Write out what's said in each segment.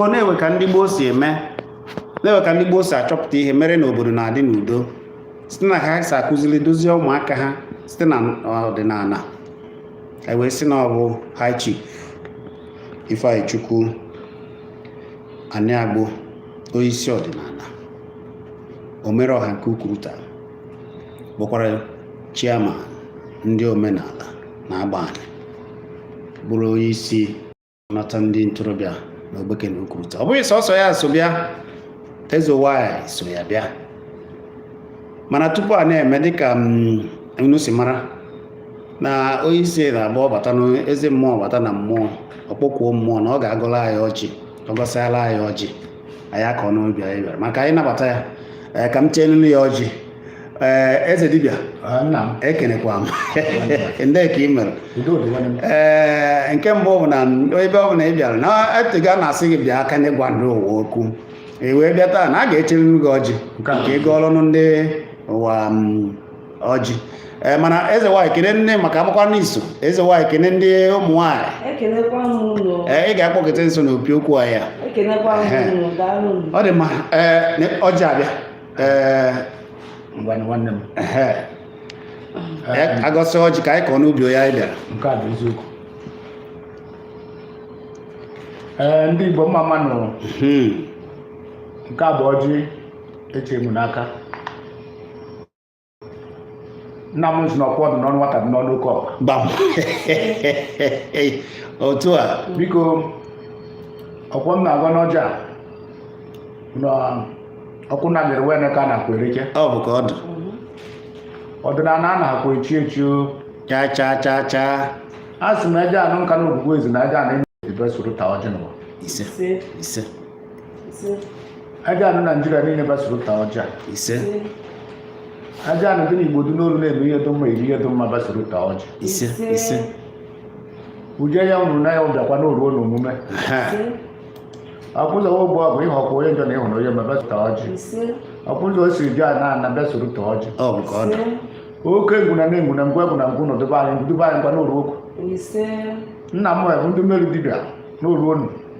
ọ na-enwe ka ndị gboo si eme na-enwe ka ndị gboo si achọpụta ihe mere na obodo na-adị n'udo site na ka ha si akụziri dozie ụmụaka ha site na ọdịnala e wee sị na ọ bụ high chief Ifeanyichukwu Aniagbo onyeisi ọdịnala omere ọha nke Ukuruta bụkwara chairman ndị omenala na Agbani bụrụ onye isi nata ndị ntorobịa na Ogbeke na Ukuruta ọ bụghị sọsọ ya so bịa eze nwaanyị so ya bịa mana tupu a na-eme dịka mm, unu si mara na onye isi na-agba ọbata na eze mmụọ bata na mmụọ ọ kpọkuo mmụọ na ọ ga-agọla anyị ọjị ọ gọsịala anyị ọjị anyị akọọ n'ubi anyị bịara maka anyị nabata ya eh, ka m chelụnụ ya ọjị ee eh, eze dibịa ekenekwa m ndị ka ị mere ee eh, nke mbụ bụ na ebe ọ bụ na ị bịara na etego a na-asị gị bịa ka anyị gwa ndị ụwa okwu ị wee bịa taa na a ga-echeriri gị ọjị ka ị gọọlụnụ ndị ụwa mm, ọjị ee mana eze nwaanyị kene nne maka amakwa n'iso eze nwaanyị kene ndị ụmụ nwaanyị ekenekwa m unu ee ị ga-akpọkịta nso n'opi okwu a ya ekenekwa m unu daalụ m ọ dị mma ee ne- ọjị abịa ee ngwa na nwanne m ehe. Ee, agọsị ọjị ka anyị kọọ n'ubi onye anyị bịara nke a bụ eziokwu ee ndị igbo mma mma nụ Hmm. nke a bụ ọjị e chee m n'aka nna m sị na okwu dị n'ọnụ nwata dị n'ọnụ oke ọkpa gbam otu a biko ọkwọ m na-agọ n'ọjị a, na ọkwụ na bịara wee ka a na-akwa ereke ọ bụ ka ọ dị ọdịnala a na-akwa echi echi o. chaa chaa chaa chaa a sị m eje anụ Nkanu ogbugbu ezi na eje anụ enyi bịa soro taa ọjị n'ụwa ise ise aja anụ naijiria niile bịa soro taa ọjị ise aja anụ dị n'igbo dị n'olu na-eme ihe dị mma eri ihe dị mma bịa soro taa ọjị ise ise uje ya nwụrụ na ya bịakwa n'oruo n'omume aha akwụzọwa ụgbọ bụ ịhọkwa onye njọ na ịhụrụ onye mma bịa soro taa ọjị akwụzọ o siri jụ ana ana bịa soro taa ọjị ọ bụ ka ọ dị oke ngwụna na engwụna ngwa egwụna ngwa ụnụ debe anyị debe anyị ngwa n'oru okwu nna m bụ ndị mmeri dibịa n'oru onu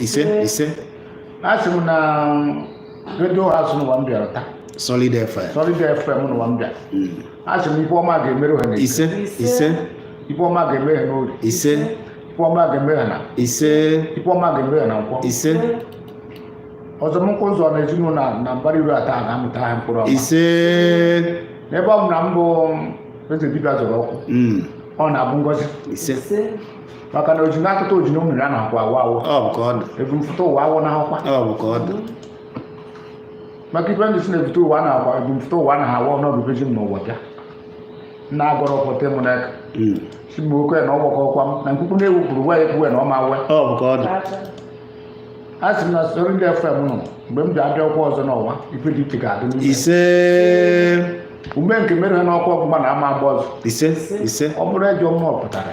ise ise asị m na redio house n'ụwa m bịara taa solid fm solid fm n'ụwa m bịara asị m ife ọma ga-emere ha n'eke ise ise ife ọma ga-eme ha n'orie ise ife ọma ga-eme ha n'afọ ise ife ọma ga-eme ha na nkwọ ise ọzọ m nkwụ ụzọ na ezinụlọ na- na mbara iru ata ga-amịta ha mkpụrụ ọma ise n'ebe ọ bụna m bụ eze dibịa zọrọ ụkwụ Mm, ọ na-abụ ngozi ise maka na oji na-akụta oji na mmiri a na-akwa awụ awụ ọ bụ ka ọ dị ebumfụta ụwa awụ na ahụkwa ọ bụ ka ọ dị maka ife ndị si na-ebute ụwa a na-akwa ebumfụta ụwa a na awụ ọnọdụ beji m n'ụwa bịa nna agọrọ pụta m n'aka Mm. si m oke na ọgbakọ ọkwa m na nkwukwu na-ewepụrụ uwe ya ekwuwe na ọma uwe ọ bụ ka ọ dị a sị m na Solid FM nọ mgbe m ji abịa ọkwa ọzọ n'ụwa ife dị iche ga-adị n'ime ise ume nke mere ha n'ọkwa ọgbụgba na ama agba ọzọ ise ise ọ bụrụ ejọ mmụọ pụtara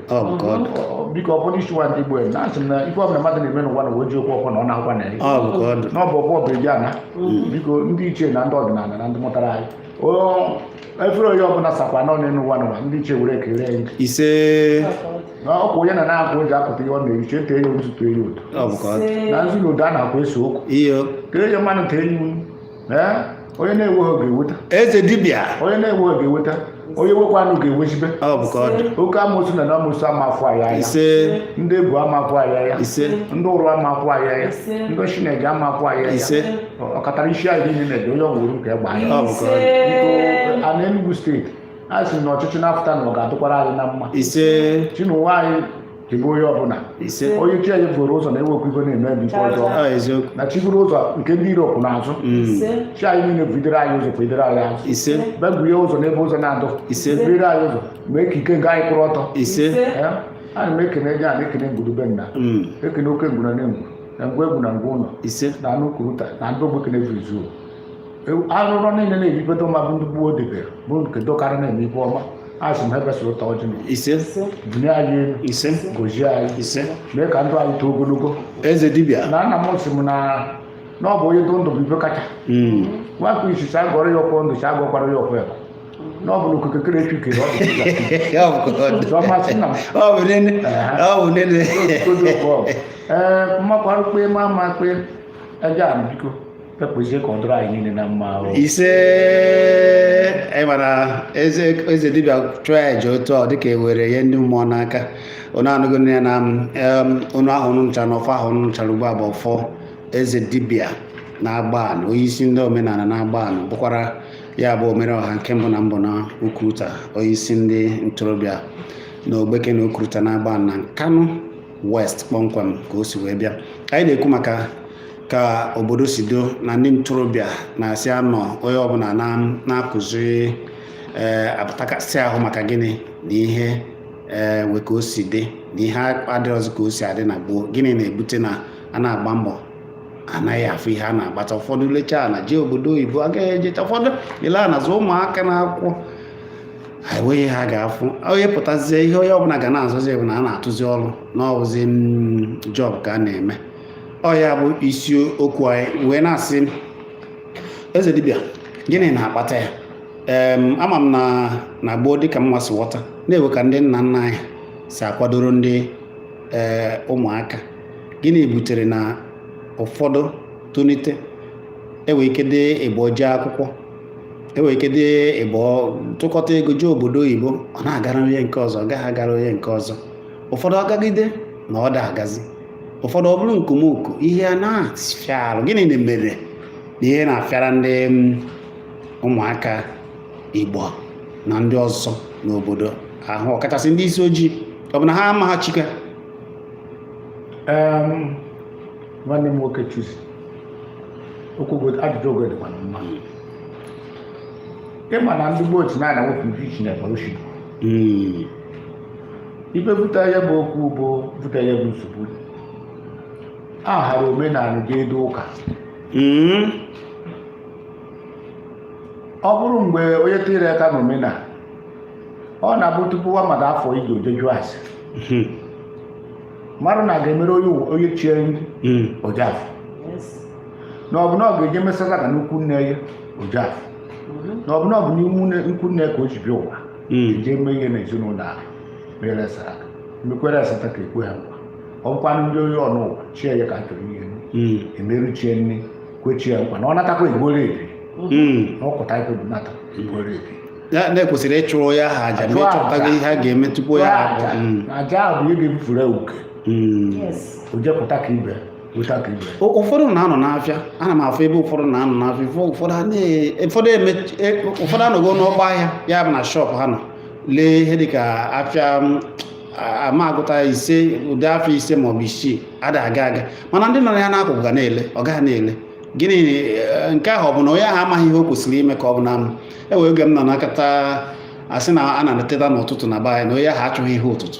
biko ọ bụrụ isi nwa ndị Igbo na-asị m na ife ọbụla mmadụ na-eme n'ụwa na oji okwu ọkwa na ọ na-akwa na ya n'ọbụ ọbụ ọbụ eji ana biko ndị ichie na ndị ọdịnala na ndị mụtara anyị efere onye ọbụla sakwa n'ọnụ n'ụwa n'ụwa ndị ichie were ekele anyị ise ọkwa onye na na-akwụ ụjọ akụta ihe ọ na-eriche tee ya otu tụọ ya ụtọ na nzu na odo a na-akwa eso okwu tee ya mmanụ tee ya Ee, onye na-enweghị ga-eweta eze dibịa onye na-enweghị ga-eweta onye nwekwanụ ga-ewezibe ọ bụ ka ọ dị oke amoosu na amoosu amafụ anyị anya ise ndị egwu amafụ anyị anya ise ndị ụrụ amafụ anyị anya Ise. ndị chineke amafụ anyị anya ise ọkatara isi anyị niile na-ede onye ọgwụrụ nke egbe anya ọ bụ ka ọ dị Ise. a na Enugu steeti a sị na ọchịchị na-apụta na ọ ga-adịkwara anyị na mma ise chinụwa anyị chebe onye ọbụla ise onye chi anyị buru ụzọ na-ewekwa ibe na-eme ebe ife ọjọọ ọ eziokwu na chi buru ụzọ nke ndị iro pụ n'azụ Mm. ise chi anyị niile bidoro anyị ụzọ bidoro anyị azụ ise bebie ụzọ n'ebe ụzọ na-adụ ise bidoro anyị ụzọ mee ka ike nke anyị kwụrụ ọtọ ise Ya, ana m ekene gị a na-ekene ngwurube nna Mm. ekene oke ngwuna na ngwu na ngwa egu na ngwa ụlọ ise na anụ Ukuruta na ndị Ogbeke ne vizu arụrụ niile na-ebibedo ma bụ ndị gbuo debere bụ nke dokarị na-eme ife ọma asị m ebesịrị ụtọ ọjị na ise bunye anyị elu ise gozie anyị ise mee ka ndụ anyị too ogologo eze dibịa na nna m sị m na na ọ bụ onye dụ ndụ bụ ife kacha Mm. nwakụ isi sị agọrọ ya ọfọ ndụ sị agọkwara ya ọfọ ebe na ọ bụ na okike kere echu kere ọ dị Ọ bụ ka ọ dị. Ọ masị nna m. Ọ bụ nene. Ọ bụ nene. ee mmakwarụ kpe ma ama kpe ebe a biko kpekpụzie ka ọ dụrụ anyị niile na mma ahụ ise anyị mara eze eze dibịa chụọ ya ji otu ọ dịka ewere ihe ndị mmụọ n'aka unu anụgo onu ya na em, onu ahụ unu nụchara na ọfọ ahụ unu nụchara ugbu a bụ ọfọ eze dibịa na Agbani onye isi ndị omenala na Agbani bụkwara ya bụ omere ọha nke mbụ na mbụ na Ukuruta onye isi ndị ntorobịa na Ogbeke na Ukuruta na Agbani na Nkanu West kpọmkwem ka o si wee bịa anyị na-ekwu maka ka obodo si do na ndị ntorobịa na-asị anọ onye ọbụla na-akụzi ee eh, apụtakasị ahụ maka gịnị na ihe ee eh, we ka o si dị na ihe adịrọzi ka o si adị na gboo gịnị na-ebute na a na-agba mbọ anaghị afụ ihe a na-agbata ụfọdụ lechaa ana jee obodo oyibo agaghị ejeta ụfọdụ ile ana zụ ụmụaka n'akwụkwọ enweghị ihe ha ga-afụ onye pụtazie ihe onye ọbụla ga na-azụzi bụ na a na-atụzi ọrụ na ọbụzi mm, job ka a na-eme ọ ya bụ isi okwu anyị wee na-asị eze dibịa gịnị na-akpata ya ee ama m na na gboo dịka m nwa si ghọta na enwe ka ndị nna nna anyị si akwadoro ndị ee ụmụaka gịnị butere na ụfọdụ tonite enwe ike dị ịbọ jee akwụkwọ enwe ike dị ịbọ tụkọta ego jee obodo oyibo ọ na-agara onye nke ọzọ ọ gaghị agara onye nke ọzọ ụfọdụ agagide na ọ da agazi ụfọdụ ọ bụrụ nkomoko ihe a na-afịa arụ gịnị na-emere na ihe na-afịara ndị mm, ụmụaka igbo na ndị ọzọ n'obodo ahụ ọkachasị ndị isi ojii ọ bụ na ha amaghị chi ka Em, nwanne m nwoke chuzi okwu ogo- ajụjụ ogo dịkwa na mma ịma na ndị gboo si na-ana wepụ isi na evolution Mm, ibe buta ya bụ okwu bụ buta ya bụ nsogbu a hara omenala ga-edo ụka Mm. ọ bụrụ mgbe onye tinyere aka n'omenala ọ na-abụ tupu nwa mmadụ afụ ije o je jụ ase Mhm. mmadụ na ga-emere onye ụwa- onye chi ya nri Mm. ọ ja-afụ na ọ bụ na ọ ga-eje mee sataka n'ikwu nne ya ọ ja-afụ na ọ bụ na ọ bụ n'ime nne- ikwu nne ka o ji bịa ụwa hmm. jee mee ihe n'ezinụlọ ahụ mere saraka mekwere sataka ekwe ha nkwa ọkwa ndị onye ọ nọ ụwa chi ya ka a chọrọ ihe hmm. emere chi ya nri kwe chi ya nkwa na ọ natakwa egbuoro ya ebi hmm. ọ kụta ife bụ nata egbuoro ya ebi ya na e kwesịrị ịchụrụ ya ha aja ma ịchọpụtago ihe a ga-eme chụpụ ya aja hmm. bụ ihe ga-ebufere uke o jepụta ka ibe ụfọdụ na-anọ n'afịa ana m afụ ebe ụfọdụ na-anọ n'afịa ụfọdụ anọgo n'ọgba ahịa ya bụ na shop ha nọ lee ihe dịka afịa a ma gụta ise ụdị afọ ise maọbụ isii ada aga aga mana ndị nọ ya n'akụkụ ga na-ele ọ gaghị na-ele gịnị eh, nke ahụ ọ bụ na onye ahụ amaghị ihe o kwesịrị ime ka ọ bụ na m enwere oge m nọ na nkata asị na a na-eteta n'ụtụtụ na be anyị na onye ahụ achọghị ihe ụtụtụ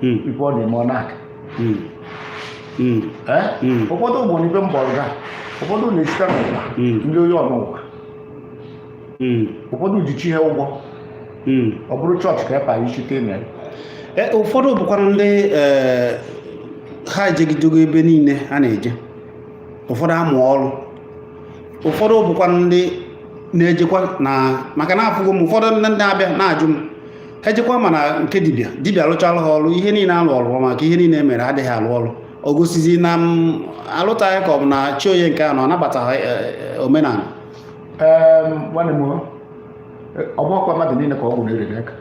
hmm. ife ọ na-eme ọ na-aka hmm. hmm. eh? ụfọdụ bụ n'ibe mgbọrọ ga ụfọdụ na-esite n'ụwa ndị onye ọnụụwa ụfọdụ ji chi ha ụgwọ ọ bụrụ chọọchị ka epa ichite na e, ụfọdụ bụkwanụ ndị e, ha ejegidogo ebe niile a na-eje ụfọdụ amụ ọrụ ụfọdụ bụkwa ndị na-ejekwa na maka na afụgo m ụfọdụ ndị na-abịa na-ajụ m ha ejekwa mana nke dibịa dibịa alụchala ha ọrụ ihe niile alụ ọrụ maka ihe niile e mere adịghị alụ ọrụ o gosizi na m alụtaghị ka ọ bụ na chi onye nke anọ anabataghị e, e, omenala nwanne m ọ bụghịkwa mmadụ niile ka ọgwụ na-ere n'aka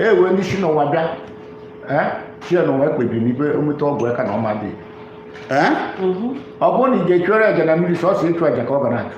enwe ndị si n'ụwa bịa chi ya n'ụwa ekpebiri n'ibe o meta ọgwụ aka na ọ ma dị ọ bụrụ na ị ga-achụrụ aja na mmiri sọsọ ịchụ aja ka ọ ga na-achụ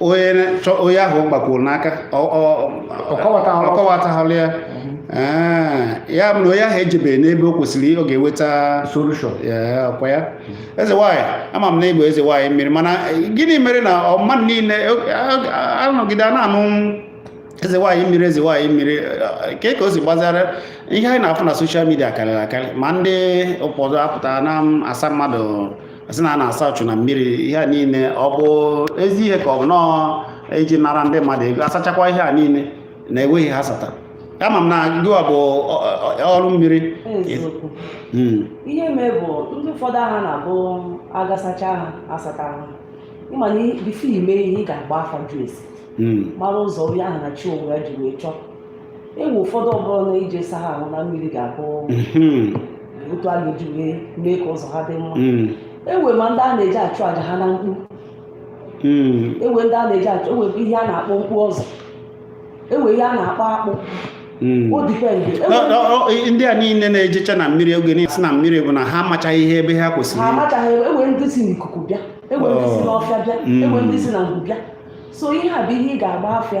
onye ahụ gbakwuru n'aka ọ kọwataghịrị ya ya bụ na onye ahụ ejebeghị n'ebe o kwesịrị ọ ga-enweta solushọn ọ kwa ya eze nwaanyị ama m na ị bụ eze nwaanyị mmiri mana gịnị mere na mmadụ niile anọgide a na-anụ eze nwaanyị mmiri eze nwaanyị mmiri eh, ke ka o si gbasara ihe anyị na-afụ na soshal midia karịrị akarị ma ndị ụfọdụ apụta na-asa mmadụ a sị na a na-asa uchu na mmiri ihe a niile ọ bụ ezi ihe ka ọ bụ nọọ iji nara ndị mmadụ ego asachakwa ihe a niile na enweghị ihe a sata ama m na gịwa bụ olu mmiri hmm. ihe mee bụ ndị ụfọdụ aha na-abụ a ga-asacha ha asata ha ị ma na bifo ị mee ihe ị ga-agba afa jụọ ese hmm. mara ụzọ onye ahụ na chi onwe ya ji wee chọọ enwe ụfọdụ ọ bụrụ na ije ịsa ha ahụ na mmiri ga-abụ mhm. otu a ga-eji wee mee ka ụzọ ha dị mma mm. enwe ma ndị a na-eje achụ aja ha na mkpu mm. enwe ndị a na-eje achụ enwe ihe a na-akpọ mkpu ọzọ enwe ihe a na-akpọ akpụ o dipendị ndị a niile na-ejecha na mmiri oge niile si na mmiri bụ na ha amachaghị ihe ebe ha kwesịrị ha amachaghị enwe ndị si n'ikuku bịa enwe ndị si oh. n'ọfịa bịa enwe ndị si na ngwu bịa so ihe a bụ ihe ị ga-agba afa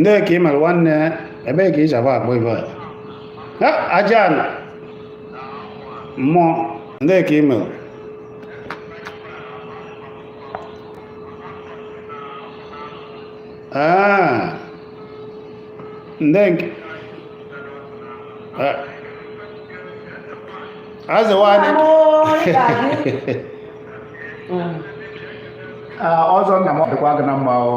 ndee ka ị mere nwanne ebee ka i si akpọ ibe a aja ala mmụọ ndee ka ị mere Ah. Ndenge. Ah. Eze nwaanyị. Ah, ọzọ nna m ọ dịkwa gị na mma o.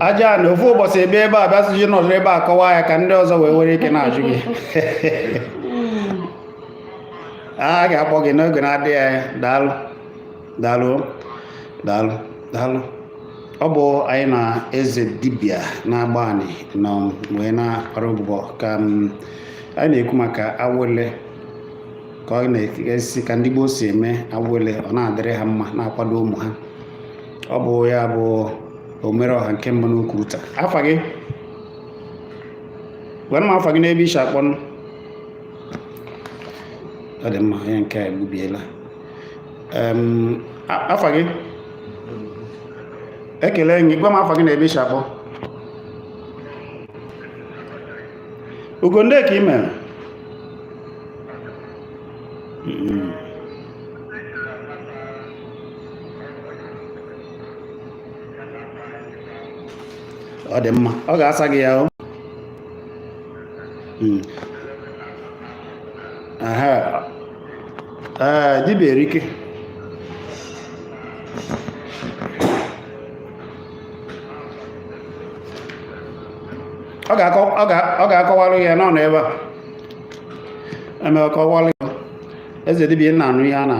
aja na ofu ụbọsị ebe ebe a bịasị ji nọdụ ebe a kọwaa ya ka ndị ọzọ wee were ike na-ajụ gị a ga-akpọ gị n'oge na-adịghị anya daalụ daalụ daalụ daalụ ọ bụ anyị na eze dibia na-agba anyị nọ wee na-akparị ụbụbọ ka anyị na-ekwu maka awele ka ọ na-esi ka ndị gboo si eme awele ọ na-adịrị ha mma na-akwado ụmụ ha ọ bụ ya bụ omere ọha nke mbụ n'ukwu ụta afa gị gwanụ m afa gị na ebe i si akpọ ọ dị mma onye nke a egbubiela afa gị ekele gị gwa m afa gị na ebe i si akpọ ugo ndee ka ị mere ọ dị mma ọ ga-asa gị ya hmm. dibịa erike ọ ga-akọwalụ ya nọ n'ebe a eme ọ kọwalụ ya eze dibia na-anụ ihe a na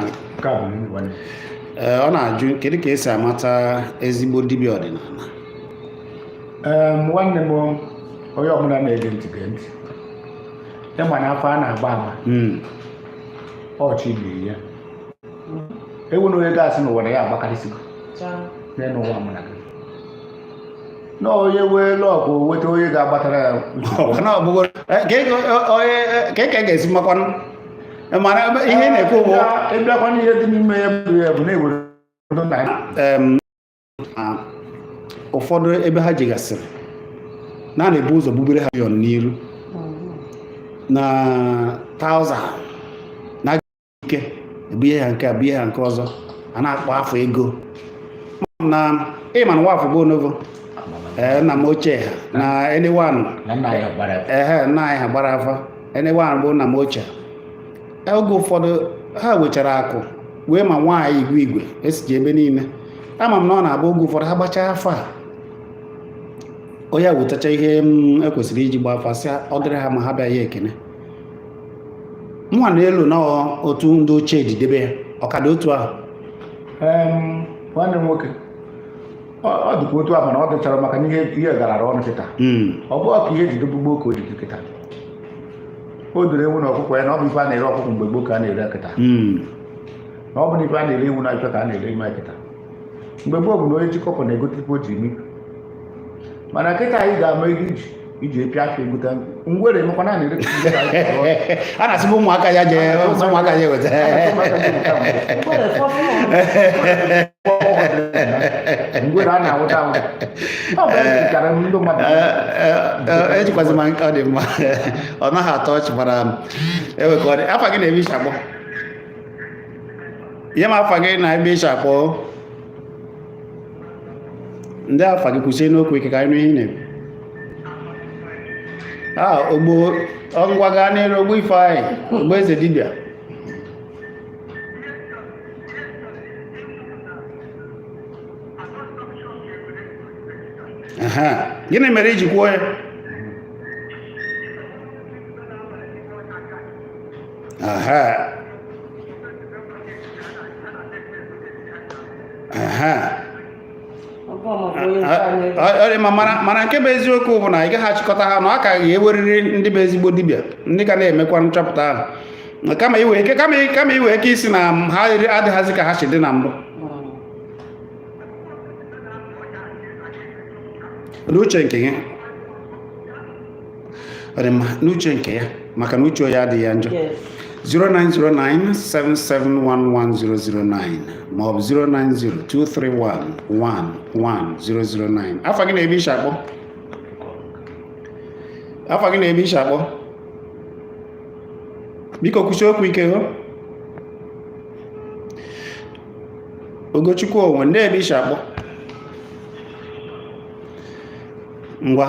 ee ọ na-ajụ kedu ka e si amata ezigbo dibia ọdịnala nwanne m onye ọbụla na-ege ntị gee ntị ị ma na afa a na-agba ama hmm. ọchị bụ ya enwere onye ga-asị n'ụwa na ya agbakarịsịgo n'elu ụwa mụ na gị na onye nwee luck nweta onye ga-agbatara ya kee ka e ga-esi makwanụ mana ihe na-ekwu bụ ị bịakwa n'ihe dị n'ime ya bụ ya bụ na e nwere ụfọdụ ebe ha jegasịrị na a na-ebu ụzọ bubere ha yon n'iru na thousand ike ebunye ya nke a bunye ya nke ọzọ a na-akpọ afa ego na ị ma na nwafọ bụ onovo ee nna m ochie ha na anyone na nna ya gbara afa. ehe nna anyị ha gbara afa anyone bụ nna m ochie oge ụfọdụ ha nwechara akụ nwee ma nwaanyị igwe igwe esiji ebe niile ama m na ọ na-abụ oge ụfọdụ ha gbachaa afa onye wetacha ihe e kwesịrị iji gba afa sị ọ dịrị ha mma ha bịa ya ekene nwa na elu na otu ndị ochie ji debe ya ọ ka dị otu ahụ nwanne m nwoke ọ dịkwa otu ahụ na ọ dịchara maka na ihe garara ọnụ kịta hmm. ọ bụghị ka ihe ji dị gboo gboo ka o ji dị kịta o doro ewu na ọkụkọ anya na ọ bụ ife a na-ere ọkụkọ mgbe gboo ka a na-ere kịta hmm. na ọ bụ na ife a na-ere ewu na ife ka a na-ere ime kịta mgbe gboo bụ na onye chịkọpụ na-egote ife o ji eme mana kịta anyị ga-ama ego iji iji epịa aka egota ngwere emekwa na na-ere a na-asị ụmụaka ya je ụmụaka ya eweta ngwere a na-awụta awụta ejikwazi ma nke ọ dị mma ọ naghị atọ ọchị gbara ewe ka ọ dị afa gị na ebe i si akpọ ihe ma afa gị na ebe i si akpọ ndị afa gị kwusienụ okwu ike ka anyị nụ ihe ị na-ekwu a ogbo ngwa gaa n'iru ogbo ifeanyị ogbo eze dibịa gịnị mere i ji kwuo ya aha mana nke bụ eziokwu bụ na ị gaghị achịkọta ha na ọ ka ga-enweriri ndị bụ ezigbo dibịa ndị ka na-emekwa nchọpụta ahụ kama i nwee ike ịsị na ha adịghịzi ka ha si dị na mbụ n'uche nke gị ọ dị mma n'uche nke ya maka na uche onye adịghị ya njọ 09097711009 maọbụ 09023111009 afa gị na ebe i shi akpọ afa gị na ebe i shi akpọ biko kwusie okwu ike ho ogochukwu onwe ndị ebe i shi akpọ ngwa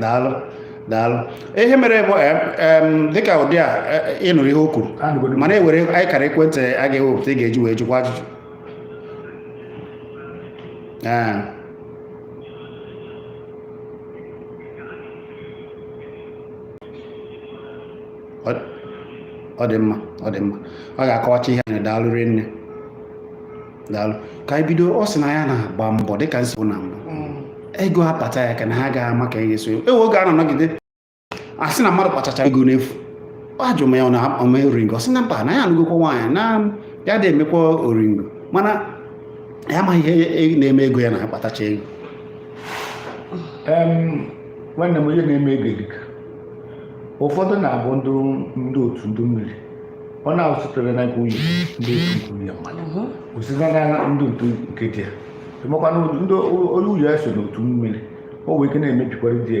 daalụ daalụ ihe mere bụ dịka ụdị a e, e, ị nụrụ ihe o kwuru mana e nwere akara ekwentị a ga-ewepụta ị ga-eji wee jụkwa ajụjụ ọ dị mma ọ dị mma ọ ga-akọwacha ihe anyị daalụ rinne daalụ ka anyị bido ọ sị na ya na-agba mbọ dịka m sị na mbụ mm. ego akpata ya ka na ha gaghị ama ka e ga-eso ewe oge a na-anọgide a sị na mmadụ kpatacha ego n'efu ajụ m ya ọ na-eme oringo ọ sị na mba na ya anụgokwa nwaanyị na ya adị emekwa oringo mana ya amaghị ihe na-eme ego ya na-akpatacha ego nwanne m ihe na-eme ego dịka ụfọdụ na-abụ ndị otu ndị mmiri ọ na-esitere na nke nwunye ndị nke nwunye mmadụ o site na ndị otu nke di ya amakwa na nwunye ya so n'otu mmiri o nwee ike na-emebikwara di ya